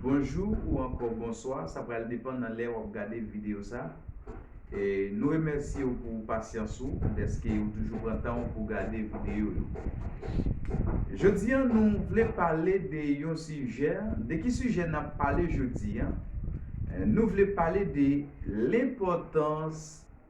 Bonjou ou ankò bonswa, sa pral depan nan lè wap gade video sa. Nou remèsye ou pou pasyans ou dèske ou toujou pran tan ou pou gade video yo. Jodi an nou vle pale de yon sijè, de ki sijè nap pale jodi an? Nou vle pale de lenpòtans.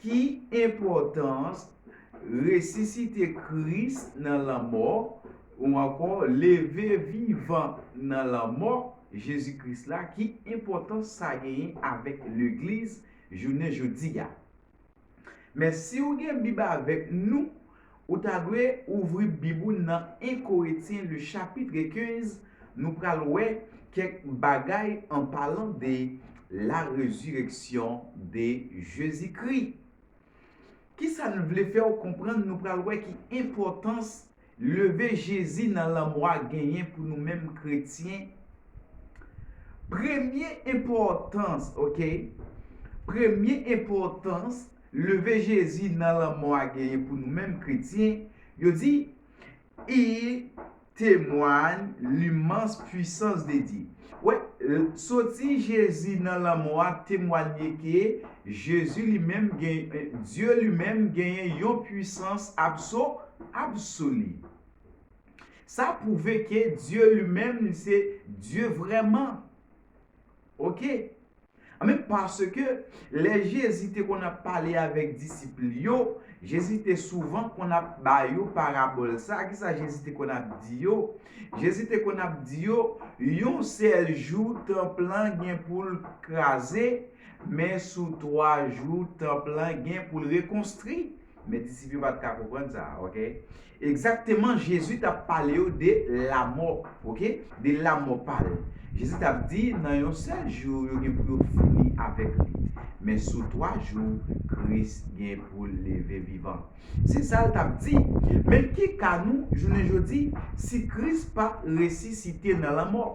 Ki enpòtans resisite Kris nan lanmò, ou ankò leve vivan nan lanmò Jezi Kris la, ki enpòtans sa genyen avèk legliz jounen jodi a? Men si ou gen bib avèk nou, Ou ta dwe ouvri bib ou nan 1 Koretyen le chapitre 15 nou pral wè kèk bagay an palan de la rezireksyon de Jezi Kri. Kisa n vle fè w konprann nou pral wè ki enpòtans leve Jezi nan lanmò a genyen pou nou menm kretyen Premye enpòtans ok Premye enpòtans Leve Jezi nan lanmò a genyen pou nou menm kretyen, yo di, I temwany limans puisans de Dye. Wè, soti Jezi nan lanmò a temwanye ke Jezi li menm gen, Dye li menm genyen yon puisans abso, absoli. Sa pwouve ke Dye li menm li se Dye vrèman. Ok. Anben, paske lè Jezi te konn ap pale avèk disip li yo, Jezi te souvan konn ap ba yo parabòl sa a. Ki sa Jezi te konn ap di yo? Jezi te konn ap di yo, Yon sèl jou tanp lan gen pou l kraze, men sou twa jou tanp lan gen pou l rekonstwi. Men disip yo pa t ka konprann sa. Ok. Egzakteman, Jezi t ap pale yo de lamò. Ok. De lamò pa l. Jezi t ap di, nan yon sèl jou, yo gen pou yo fini avèk li. Men sou twa jou, Kris gen pou l leve vivan. Se sa l t ap di. Men ki ka nou, jounen jodi, si Kris pa t resisite nan lanmò?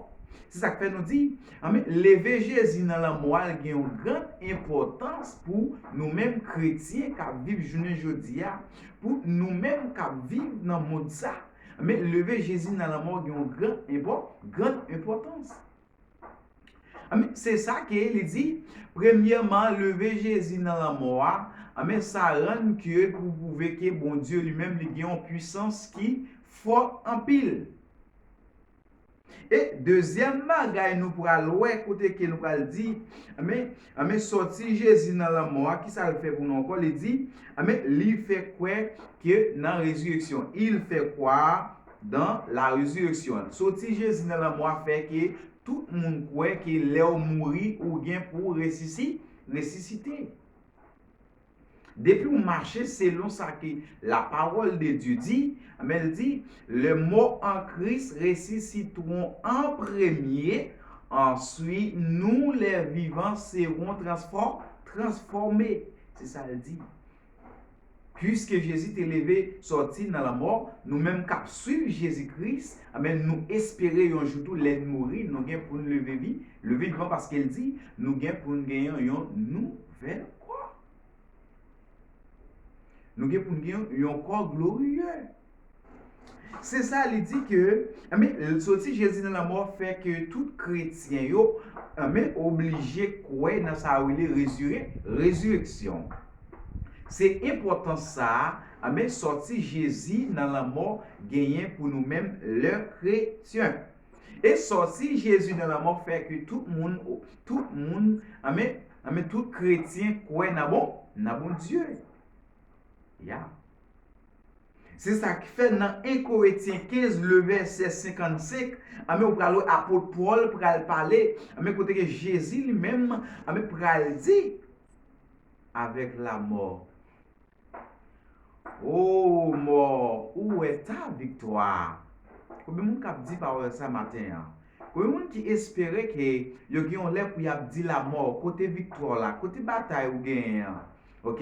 Se sa k fè nou di, Anben, leve Jezi nan lanmò a gen yon gran enpòtans pou nou menm kretyen k ap viv jounen jodi a, pou nou menm k ap viv nan mond sa. Anben, leve Jezi nan lanmò gen yon gran enpò, gran enpòtans. Anben, se sa ke li di, premyèman, leve Jezi nan lanmò a, anben, sa rann ke pou pwouve ke Bondye li menm li gen yon pwisans ki fò anpil. E dezyèm bagay nou pral wè kote ke nou pral di, anben, anben sòti Jezi nan lanmò a, kisa l fè pou nou ankò? Li di, anben, li fè kwè ke nan rezireksyon. Il fait croire dans la résurrection. Sòti Jezi nan lanmò a fè ke tout moun kwè ke lè ou mouri, ou gen pou w resisi, resisite. Depi w mache selon sa ke lapawòl de Dye di, anben l di, lè mò an Kris resisitwon an premye, answi nou lè vivan sewon transfò, transfòme. Se sa l di. Piske Jezi te leve sòti nan lanmò, nou menm k ap swiv Jezi Kris, anben nou espere yon jou tou lè n mouri, nou gen pou n leve vi, leve vivan paske l di, nou gen pou n gen yon nou. Fèl kwè. Nou gen pou n gen yon kò gloriye. Se sa li di ke, anben, soti Jezi nan lanmò fè ke tout kretyen yo, anben, oblije kwè nan sa yo rele rezire, rezireksyon. Se enpòtans sa a, anben, sòti Jezi nan lanmò genyen pou nou menm lè kretyen. E sòti Jezi nan lanmò fè ke tout moun, tout moun, anben, Nan men tout kretyen kwè nan bon, nan Bondye. Ya. Se sa k fè nan 1 Koretyen 15 le vèsè 55, anben ou pral wè apot Pòl pral pale, anben kote ke Jezi li menm, anben pral di, avèk lamò Ooh mort ou wè sa viktwa. Konbyen moun kap di pawòl sa maten an? Konbyen moun ki espere ke yo gen yon lè pou yap di lamò kote viktwa w la kote batay ou genyen an ok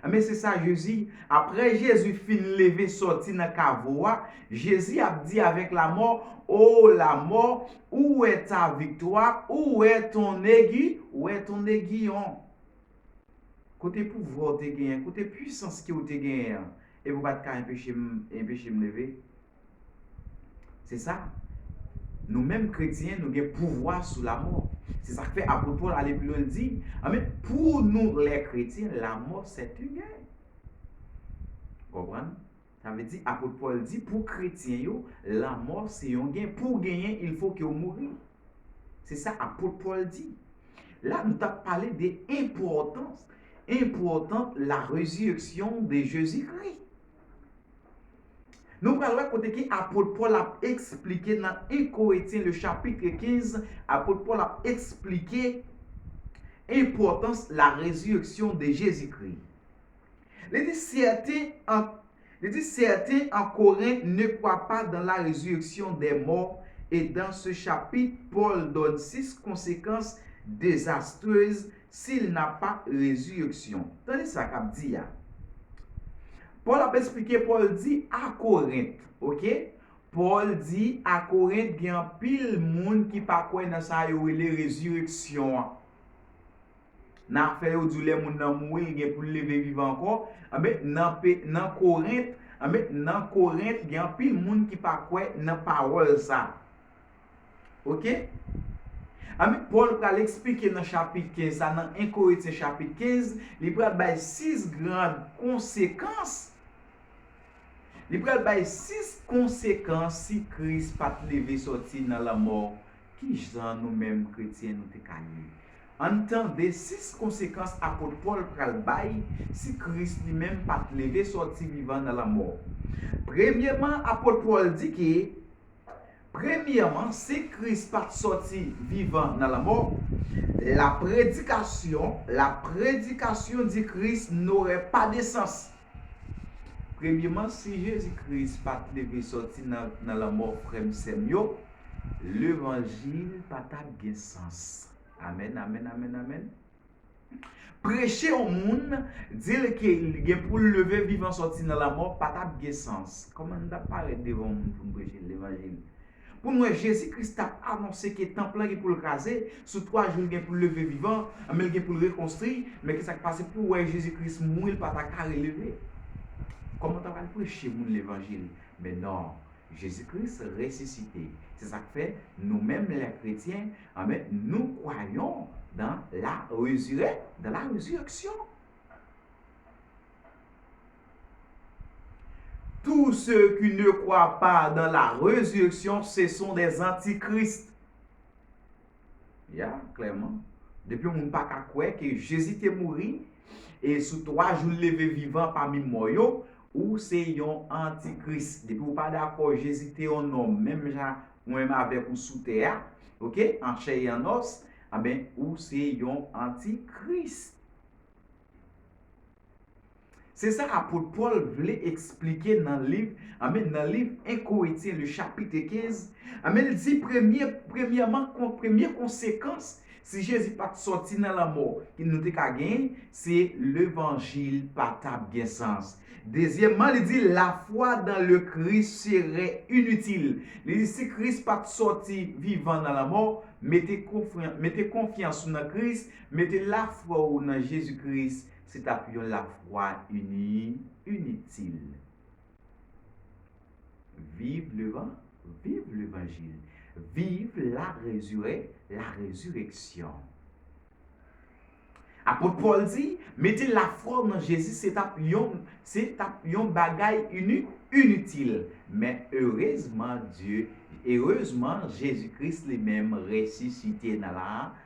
enben se sa jezi aprè jezi fin leve sòti nan kavo a jezi ap di avèk lamò oo lamò ou wè ta viktwa ou wè ton egi ou wè ton egiyon Kote pouvwa w te genyen, kote pwisans ke w te genyen an, epi w pa t ka enpeche m enpeche m leve? Se sa, nou menm kretyen, nou gen pouvwa sou lamò. Se sa k fè apot Pòl ale pi lwen l di, anben, pou nou lè kretyen, lamò sèten gen. Konprann? Sa vle di, apot Pòl di pou kretyen yo, lanmò se yon gen, pou w genyen ilfo ke w mouri. Se sa apot Pòl di. La nou t ap pale de enpòtans, enpòtans la rezirèksyon de Jezi Kri. Nou pral wè kote ke apot Pòl ap esplike nan 1 Koretyen le chapitre 15, apot Pòl ap esplike enpòtans la rezirèksyon de Jezi Kri. Li di sèten an Li di sèten an Koren ne kwa pa dan la rezireksyon dè mò e dan se chapit Pòl dòn sis konsekans dezastrez si l na pa rezireksyon. Tande sa k ap di a. Pòl ap esplike Pòl di a Korent ok Pòl di a Korent gen anpil moun ki pa kwè nan sa yo rele rezireksyon an. Nan fè yo di w lè moun nan mouri li gen pou l leve vivan ankò, anben nan pe nan Korent, anben nan Korent gen anpil moun ki pa kwè nan pawòl sa. Ok? Anben Pòl pral esplike nan chapit 15 sa nan 1 Korentyen chapit 15, li pral bay 6 grand konsekans, li pral bay 6 konsekans si Kris pa t leve sòti nan lanmò Ki jan nou menm kretyen nou te ka ye? Ann tande sis konsekans apot Pòl pral bay si Kris li menm pa t leve sòti vivan nan lanmò. Premyeman, apot Pòl di ke, Premyeman, si Kris pa t sòti vivan nan lanmò, la predikasyon, la predikasyon di Kris n'aurait pas de sens. Premyeman, si Jezi Kris pa t leve sòti nan lanmò frè m sè m yo, levanjil pa t ap gen sans. Amèn, amèn, amèn, amèn. Preche yon moun, di l ke li gen pou l leve vivan sòti nan lanmò pa t ap gen sans. Kòman n t ap parèt devan yon moun pou n preche l levanjil? Pou n wè Jezi Kris t ap anonse ke tanp lan gen pou l kraze, sou twa jou l gen pou l leve vivan, anben l gen pou l rekonstri, men ki sa k pase pou w wè Jezi Kris mouri l pa ta ka releve? Kòman w ta pral preche moun levanjil? Men non, Jezi Kris resisite, se sa k fè nou menm lè kretyen, anben nou kwayon dan la rezirè, dans la résurrection. Tou se ki ne kwa pa dan la rezireksyon se son dè zantikrist. Ya, klèman. Depi yon moun pa ka kwè ke Jezi te mouri, e sou twa jou l leve vivan pami mò yo, ou se yon antikris. Depi ou pa dakò Jezi te yon nonm menm jan mwen menm avèk ou sou tè a, ok, an chè e an nòs, anben ou se yon antikris. Se sa apot Pòl vle esplike nan liv, anben nan liv 1 Koretyen le chapitre 15, anben l di premye, premyèman kon premye konsekans si Jezi pa t sòti nan lanmò ki nou te ka gen, se levanjil pa t ap gen sans. Dezyèmman li di lafwa dan le Kris serè initil. Li di si Kris pa t sòti vivan nan lanmò, mete konfyan mete konfyans ou nan Kris, Mete lafwa w nan Jezi Kris se t ap yon lafwa ini, initil. Viv levan, viv levanjil. Viv la rezire, la rezireksyon. Apot Pòl di, Mete lafwa w nan Jezi se t ap yon, se t ap yon bagay ini, initil. Men erezman Dye, erezman Jezi Kris li menm resisite nan la,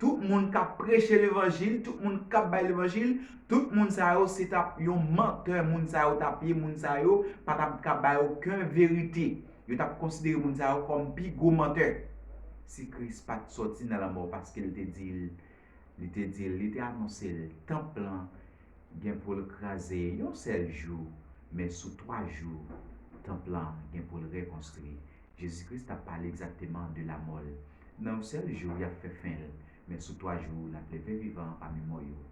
Tout moun kap preche levanjil, tout moun kap bay levanjil, tout moun sa yo se tap yon mantè moun sa yo tap ye, moun sa yo pa tap ka bay oken verite. Yo tap konsidere moun sa yo kòm pi gwo mantè. Si Kris pat sòti nan lanmò paske l te di l, li te di l, li te anonse l, tanp lan gen pou l kraze yon sèl jou, men sou twa jou tanp lan gen pou l rekonstwi. Jezi Kris t ap pale egzakteman de lamò l. Nan yon sèl jou, y ap fè fen l, men sou twa jou, l ap leve vivan pami mò yo.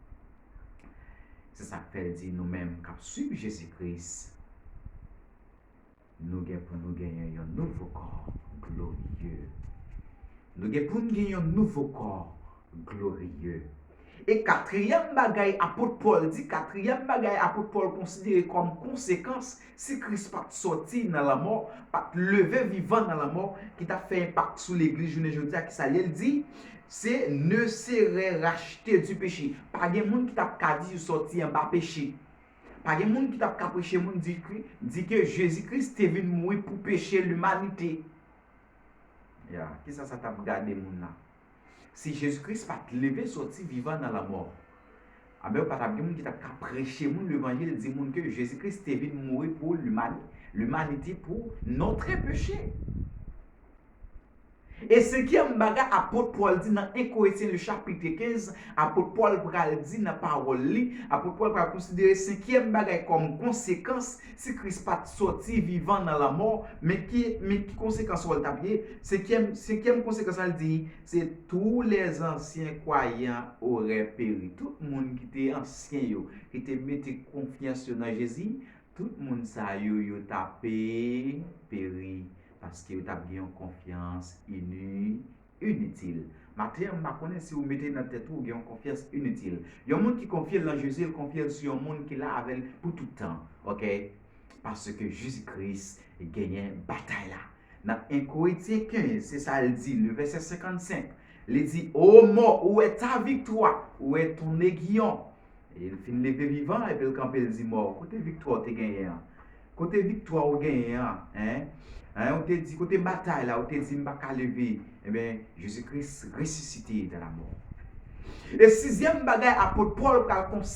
Se sa k fè l di nou menm k ap suiv Jezi Kris, Nou gen pou nou genyen yon nouvo kò gloriye. Nou gen pou n gen yon nouvo kò. Glorieux. E katriyèm bagay Apot Pòl di, katriyèm bagay Apot Pòl konsidere kòm konsekans si Kris pa t sòti nan lanmò, pa t leve vivan nan lanmò, ki t ap fè enpak sou Legliz jounen jodi a, ki sa l ye? L di, Se ne serè rachte du peche. Pa gen moun ki t ap ka di yo sòti anba peche. Pa gen moun ki t ap ka preche moun di ke, di ke Jezi Kris te vin mouri pou peche limanite. Ya, ki sa sa t ap gade moun nan? Si Jezi Kris pa t leve sòti vivan nan lanmò, anben pa t ap gen moun ki t ap ka preche moun levanjil, di moun ke Jezi Kris te vin mouri pou limanite pou notre peche. E senkyèm bagay Apot Pòl di nan 1 Koretyen le chapitre 15, Apot Pòl pral di nan pawòl li, Apot Pòl pral konsidere senkyèm bagay kòm konsekans Si Kris pa t sòti vivan nan lanmò, men ki men ki konsekans wòl t ap ye? Senkyèm senkyèm konsekans la l di, Se tou lèzansyen kwayan orè peri. Tout moun ki te ansyen yo, ki te mete konfyans yo nan Jezi, tout moun sa yo yo t ape peri, paske yo t ap gen yon konfyans ini. Initil. Maten an, m pa konnen si ou mete nan tèt ou ou gen yon konfyans initil. Yon moun ki konfye l nan Jezi, l konfye l sou yon moun ki la avè l pou tout tan. Ok. Paske Jezi Kris genyen batay la. Nan 1 Korentyen 15, se sa l di, le vèsè 55, li di, O mò, ou wè ta viktwa? Ou wè ton negiyon? E l fin leve vivan epi l kanpe l di mò, Kote viktwa ou te genyen an? Kote viktwa ou genyen an? Hein? Hein? Ou te di, kote batay la? Ou te di m pa ka leve. Enben, Jezi Kris resisite de lamò. E sizyèm bagay apot Pòl pral.